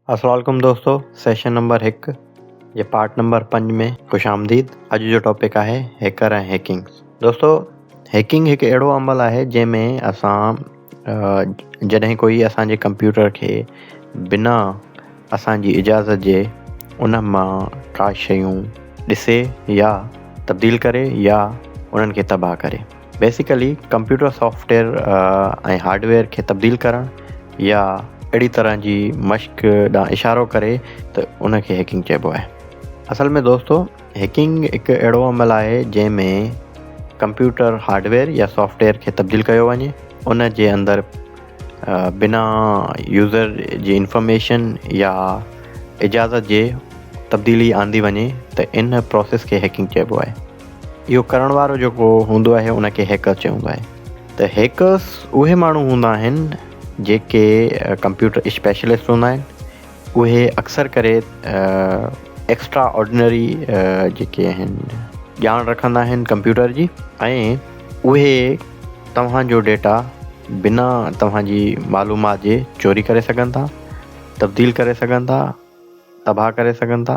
السلام عليڪم دوستو سيشن نمبر هڪ جي پارٽ نمبر پنج ۾ خوش آمديد اڄ جو ٽاپڪ آهي هيڪر ۽ هيڪنگ دوستو هيڪنگ هڪ اهڙو عمل آهي جنهن ۾ اسان جڏهن ڪوئي اسان جي ڪمپيوٽر کي بنا اسان جي اجازت جي ان مان ڪا شيون ڏسي يا تبديل ڪري يا انهن کي تباهه ڪري بيسيڪلي ڪمپيوٽر سافٽويئر ۽ هارڊويئر کي تبديل ڪرڻ يا اهڙي طرح جي مشق ڏانهن اشارو ڪري ته ان کي هيڪنگ چئبو آهي اصل ۾ دوستو هيڪنگ هڪ اهڙو عمل آهي جنهن ۾ ڪمپيوٽر هارڊويئر يا سافٽويئر کي تبديل ڪيو وڃي ان جي اندر بنا يوزر جي انفارميشن يا اجازت جي تبديلي آندي وڃي ته ان پروسيس کي هيڪنگ چئبو آهي اهو ڪرڻ وارو جيڪو هوندو آهي ان کي هيڪر چئبو آهي ته هيڪرس اهي ماڻهو هوندا آهن جيڪي ڪمپيوٽر اسپيشلسٽ هوندا آهن اهي اڪثر ڪري ايڪسٽرا آرڊنري جيڪي آهن ڄاڻ رکندا آهن ڪمپيوٽر جي ۽ اهي توهان جو ڊيٽا بنا توهان جي معلومات جي چوري ڪري سگهن ٿا تبديل ڪري سگهن ٿا تباهه ڪري سگهن ٿا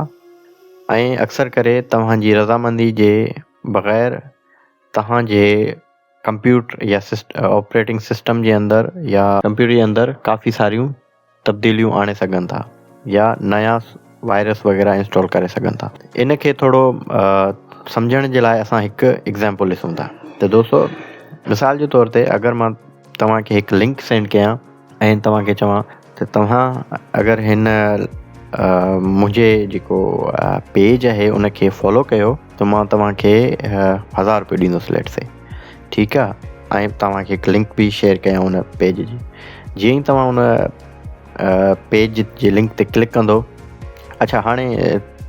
۽ اڪثر ڪري توهان جي رضامندي جي بغير توهان جي ڪمپيوٽر يا آپريٽنگ سسٽم جي اندر يا ڪمپيوٽر جي اندر ڪافي ساريون تبديليون آڻي سگهن ٿا يا نيا وائرس وغيره انسٽال ڪري سگهن ٿا ان کي ٿورو سمجهڻ جي لاء اسان هڪ ايگزامپل ڏسون ٿا ته دوستو مثال جي طور تي اگر مان توهان کي هڪ لنڪ سينڊ ڪيان ۽ توهان کي چوان ته توهان اگر هن منهنجي جيڪو پيج آهي ان کي فالو ڪيو ته مان توهان کي هزار روپيو ڏيندس ليٽ سي ٺيڪ آهي ۽ توهان کي هڪ لنڪ به شيئر ڪيان ان پيج جي جيئن ئي توهان ان پيج جي لنڪ تي ڪلڪ ڪندو اچھا هاڻي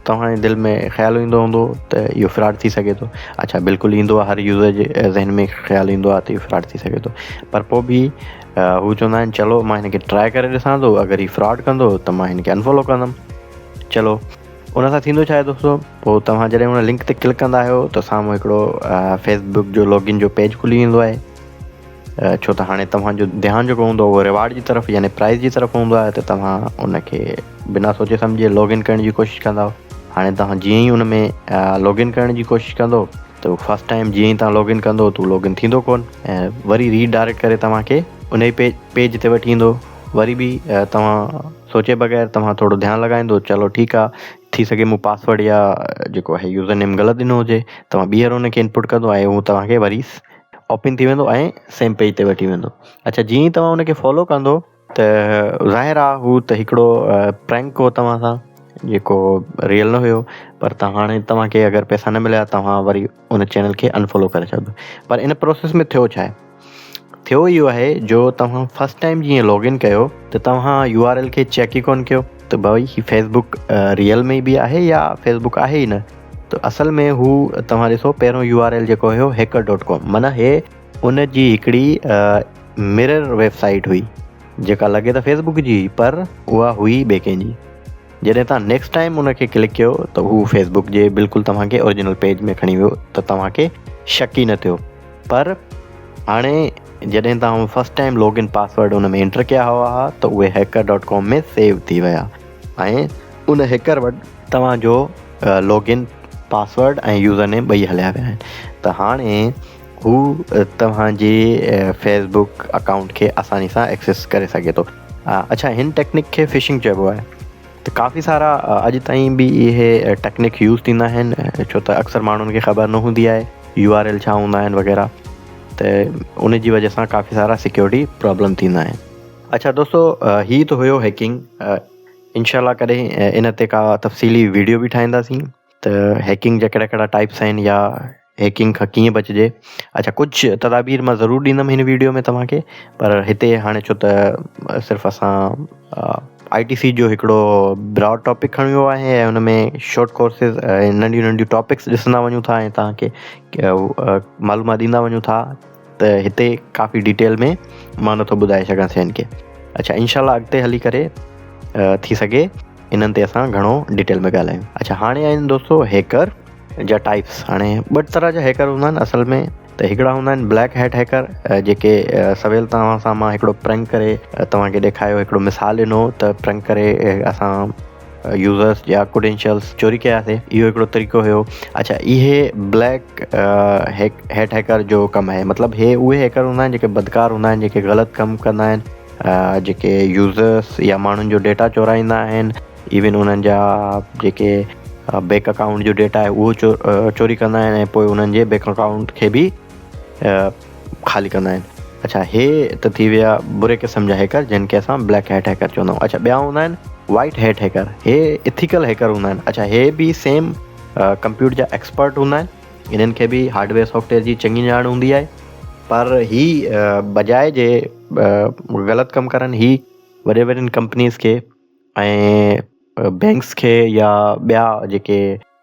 توهان جي دل ۾ خيال ايندو هوندو ته اهو فراڊ ٿي سگهي ٿو اچھا بلڪل ايندو آهي هر يوزر جي ذهن ۾ خيال ايندو آهي ته اهو فراڊ ٿي سگهي ٿو پر پوء به هو چوندا آهن چلو مان هن کي ٽرائي ڪري ڏسان ٿو اگر هي فراڊ ڪندو ته مان هن کي انفالو ڪندم چلو ان سان ٿيندو ڇا آهي دوستو پوء توهان جڏهن ان لنڪ تي ڪلڪ ڪندا آهيو ته سامهون هڪڙو فيس بڪ جو لوگن جو پيج کلي ويندو آهي ڇو ته هاڻي توهان جو ڌيان جيڪو هوندو اهو رواڊ جي طرف يعني پرائز جي طرف هوندو آهي ته توهان ان کي بنا سوچي سمجهي لاگ ان ڪرڻ جي ڪوشش ڪندا هاڻي توهان جيئن ئي ان ۾ لاگ ان ڪرڻ جي ڪوشش ڪندو ته فرسٽ ٽائيم جيئن ئي توهان لاگ ان ڪندو ته لاگ ان ٿيندو ڪون ۽ وري ري ڊائريڪٽ ڪري توهان کي ان ئي پيج پيج تي وٺي ايندو وري به توهان سوچي بغير توهان ٿورو ڌيان لڳائيندو چلو ٺيڪ آ ٿي سگهي مون پاسورڊ يا جيڪو آهي يوزر نيم غلط ڏنو هجي توهان ٻيهر ان کي انپوٽ ڪندو ۽ هو توهان کي وري اوپن ٿي ويندو ۽ سيم پيج تي وٺي ويندو اڇا جيئن ئي توهان ان کي فالو ڪندو ته ظاهر آ هو ته هڪڙو پرينڪ هو توهان سان جيڪو ريئل نه هيو پر ته هاڻي توهان کي اگر پئسا نه مليا توهان وري ان چينل کي انفالو ڪري ڇڏيو پر ان پروسيس ۾ ٿيو ڇا آهي ٿيو اهو آهي جو توهان فرسٽ ٽائم جيئن لاگ ان ڪيو ته توهان يو آر ايل کي چيڪ ئي ڪون ڪيو ته ڀائي هي فيسبوڪ ريئل ۾ به آهي يا فيسبوڪ آهي ئي نه ته اصل ۾ هو توهان ڏسو پهريون يو آر ايل جيڪو هيو هيڪر ڊاٽ ڪام معنيٰ هي ان جي هڪڙي مرر ويب سائيٽ هئي جيڪا لڳي ته فيس بڪ جي هئي پر اها هئي ٻئي ڪنهن جي جڏهن توهان نيڪسٽ ٽائيم ان کي ڪلڪ ڪيو ته هو فيس بڪ جي بلڪل توهان کي اوريجنل پيج ۾ کڻي ويو ته توهان کي شڪ ئي نه ٿيو پر هاڻي جڏهن توهان first time log in password ان ۾ انٽر ڪيا هوا ها ته اهي هيڪر ڊاٽ ڪام ۾ سيو ٿي ويا ۽ ان هيڪر وٽ توهان جو log in password ۽ username ٻئي هليا ويا آهن ته هاڻي هو توهان جي فيس بڪ اڪائونٽ کي آساني سان ايڪسيس ڪري سگهي ٿو اڇا هن ٽيڪنڪ کي فشنگ چئبو آهي ته ڪافي سارا اڄ تائين به اهي ٽيڪنڪ يوز ٿيندا آهن ڇو ته اڪثر ماڻهن کي خبر نه هوندي آهي يو آر ايل ڇا هوندا آهن وغيره ته ان جي وجه سان ڪافي سارا سيڪيورٽي پرابلم ٿيندا آهن اچھا دوستو هي ته هيو هيڪنگ انشاء الله ڪڏهن ان تي ڪا تفصيلي ويڊيو به ٺاهينداسين ته هيڪنگ جا ڪهڙا ڪهڙا ٽائپس آهن يا هيڪنگ کان ڪيئن بچجي اچا ڪجهه تدابير مان ضرور ڏيندم هن ويڊيو ۾ توهان کي پر هتي هاڻي ڇو ته صرف اسان آئي ٽي سي جو هڪڙو براڊ ٽاپڪ کڻيو آهي ۽ هن ۾ شارٽ ڪورسز ننڍيون ننڍيون ٽاپڪس ڏسندا وڃون ٿا ۽ توهان کي معلومات ڏيندا وڃون ٿا ته هتي ڪافي ڊيٽيل ۾ مان نٿو ٻڌائي سگهان سين کي اڇا انشاء الله اڳتي هلي ڪري ٿي سگهي انهن تي اسان گهڻو ڊيٽيل ۾ ڳالهايون اڇا هاڻي آهن دوستو هيڪر جا ٽائپس هاڻي ٻه طرح جا هيڪر هوندا آهن اصل ۾ ته هڪڙا هوندا آهن بليڪ هيٽ هيڪر جيڪي سويل توهان سان مان هڪڙو پرنڪ ڪري توهان کي ڏيکايو هڪڙو مثال ڏنو ته پرنڪ ڪري اسان يوزرس جا ڪريڊينشلس چوري ڪياسي اهو هڪڙو طريقو هيو اڇا اهي بليڪ هيٽ هيڪر جو ڪم آهي مطلب هي اهي هيڪر هوندا آهن جيڪي بدڪار هوندا آهن جيڪي غلط ڪم ڪندا آهن جيڪي يوزرس يا ماڻهن جو ڊيٽا چورائيندا آهن ايون انهن جا جيڪي بيڪ اڪائونٽ جو ڊيٽا آهي اهو چوري ڪندا آهن ۽ پوء انهن جي بيڪ اڪائونٽ کي به خالي ڪندا آهن اڇا هي ته ٿي ويا بري قسم جا هيڪر جن کي اسان بليڪ هيٽ هيڪر چوندا آهيون اڇا ٻيا هوندا آهن وائٽ هيٽ هيڪر هي اٿيڪل هيڪر هوندا آهن اڇا هي به سيم ڪمپيوٽر جا ايڪسپرٽ هوندا آهن انهن کي به هارڊويئر سافٽويئر جي چڱي ڄاڻ هوندي آهي پر هي بجاء جي غلط ڪم ڪرن هي وڏي وڏين ڪمپنيز کي ۽ بينڪس کي يا ٻيا جيڪي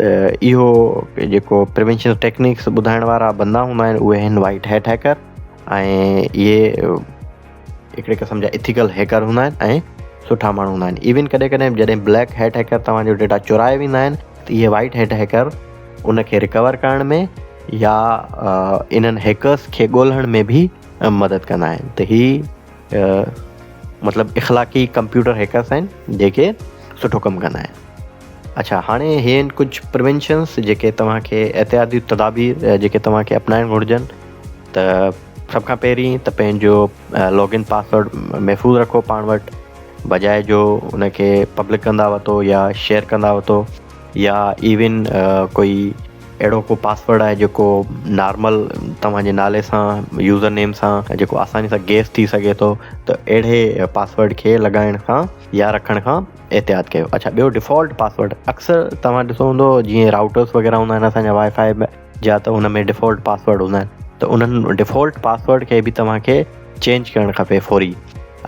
ته اهو جيڪو پريونشل ٽيڪنڪس ٻڌائڻ وارا بندا هوندا آهن اهي آهن وائٽ هيٽ هيڪر ۽ اهي هڪڙي قسم جا اٿيڪل هيڪر هوندا آهن ۽ سٺا ماڻهو هوندا آهن ايون ڪڏهن ڪڏهن جڏهن بليڪ هيٽ هيڪر توهان جو ڊيٽا چورائي ويندا آهن ته اهي وائٽ هيٽ هيڪر ان کي رڪور ڪرڻ ۾ يا انهن هيڪرس کي ڳولڻ ۾ به مدد ڪندا آهن ته هي مطلب اخلاقي ڪمپيوٽر هيڪرس آهن جيڪي سٺو ڪم ڪندا آهن اڇا هاڻي هي آهن ڪجهه پروينشنس جيڪي توهان کي احتياطي تدابير جيڪي توهان کي اپنائڻ گهرجن ته سڀ کان پهرين ته پنهنجو لاگ ان پاسورڊ محفوظ رکو پاڻ وٽ بجاء جو ان کي پبلڪ ڪندا وتو يا شيئر ڪندا وتو يا ايون ڪوئي اهڙو ڪو پاسورڊ آهي جيڪو نارمل توهان جي نالي سان يوزر نيم سان جيڪو آساني سان گيس ٿي سگهي ٿو ته اهڙي پاسورڊ کي لڳائڻ کان يا رکڻ کان احتياط ڪيو اڇا ٻيو ڊيفالٽ پاسورڊ اڪثر توهان ڏسو هوندو جيئن راوٽرس وغيرہ هوندا آهن اسان جا وائي فائي جا ته ان ۾ ڊيفالٽ پاسورڊ هوندا آهن ته انهن ڊيفالٽ پاسورڊ کي به توهان کي چينج ڪرڻ کپي فوري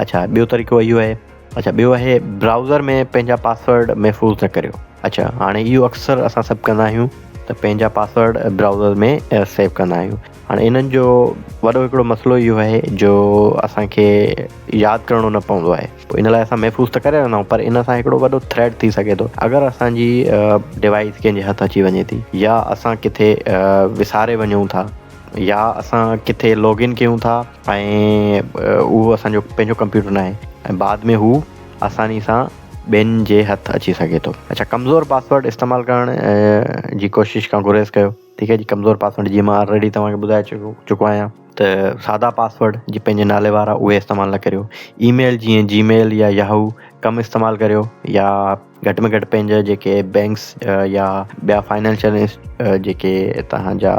اڇا ٻيو طريقو اهو آهي اڇا ٻيو آهي براوزر ۾ پنهنجا پاسورڊ محفوظ نه ڪريو اڇا هاڻي اهو اڪثر اسان سڀ ڪندا آهيون ته پنهنجا پاسورڊ براوزر ۾ سيو ڪندا آهيون هاڻي انهن جو وڏو هڪڙو مسئلو اهو آهي جو اسان کي ياد ڪرڻو نه پوندو آهي پوء ان لاء اسان محفوظ ته ڪري رهندا آهيون پر ان سان هڪڙو وڏو ٿريٽ ٿي سگهي ٿو اگر اسان جي ڊوائيس ڪنهن جي هٿ اچي وڃي ٿي يا اسان ڪٿي وساري وڃون ٿا يا اسان ڪٿي لاگ ان ڪيون ٿا ۽ اهو اسان جو پنهنجو ڪمپيوٽر ناهي ۽ بعد ۾ هو آساني سان ٻين جي هٿ اچي سگهي ٿو اڇا ڪمزور پاسورڊ استعمال ڪرڻ جي ڪوشش کان گريز ڪيو ٺيڪ آهي جي ڪمزور پاسورڊ جيئن مان آلريڊي توهان کي ٻڌائي چڪو چڪو آهيان ته سادا پاسورڊ جي پنهنجي نالي وارا اهي استعمال نه ڪريو اي ميل جيئن جي ميل يا ياهو ڪم استعمال ڪريو يا گهٽ ۾ گهٽ پنهنجا جيڪي بينڪس يا ٻيا فائنينشل جيڪي توهان جا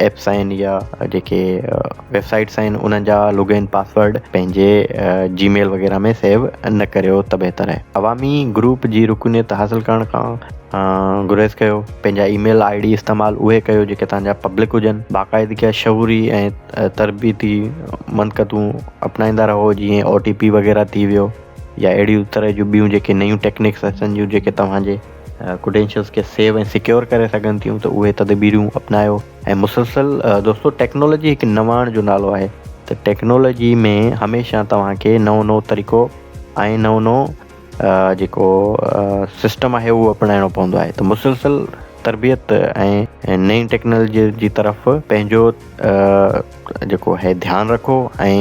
ايپس آهن يا جيڪي ويب سائيٽس آهن انهن جا لوگين پاسورڊ پنهنجي جي ميل وغيره ۾ سيو نه ڪريو ته بهتر آهي عوامي گروپ جي رڪنيت حاصل ڪرڻ کان گريز ڪيو پنهنجا اي ميل آئي ڊي استعمال اهي ڪيو جيڪي توهان جا پبلڪ هجن. باقاعدگيء شعوري ۽ تربيتي منقطون اپنائيندا رهو جيئن او ٽي پي وغيره ٿي ويو يا اهڙي طرح جون ٻيون جيڪي نيون ٽيڪنڪس اچن ٿيون جيڪي توهان جي ڪريڊينشلز کي سيو ۽ سيڪيور ڪري سگهن ٿيون ته اهي تدبيرون اپنايو ۽ مسلسل دوستو ٽيڪنالاجي هڪ نواڻ جو نالو آهي ته ٽيڪنالاجي ۾ هميشه توهان کي نئون نئون طريقو ۽ نئون نئون جيڪو سسٽم آهي اهو اپنائڻو پوندو آهي ته مسلسل تربيت ۽ نئين ٽيڪنالجي جي طرف پنهنجو جيڪو آهي ڌيان رکو ۽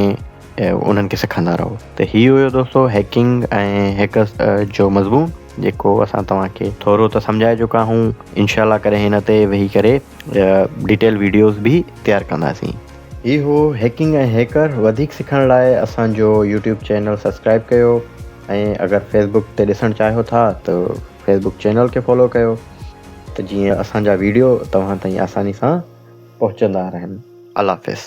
انهن کي سکندا رهو ته هي هيو دوستو هيڪنگ ۽ هيڪرس جو مضمون جيڪو اسان توهان کي ٿورو ته سمجهائي چڪا آهيون انشاء الله ڪڏهن هن تي ويهي ڪري ڊيٽيل ويڊيوز به تيار ڪنداسين هي هو هيڪنگ ۽ هيڪر وڌيڪ سکڻ لاء اسان جو يوٽيوب چينل سبسڪرائب ڪيو ۽ اگر فيسبوڪ تي ڏسڻ چاهيو ٿا ته فيسبوڪ چينل کي فالو ڪيو ته جيئن اسان جا ويڊيو توهان تائين آساني سان پهچندا رهن الله حافظ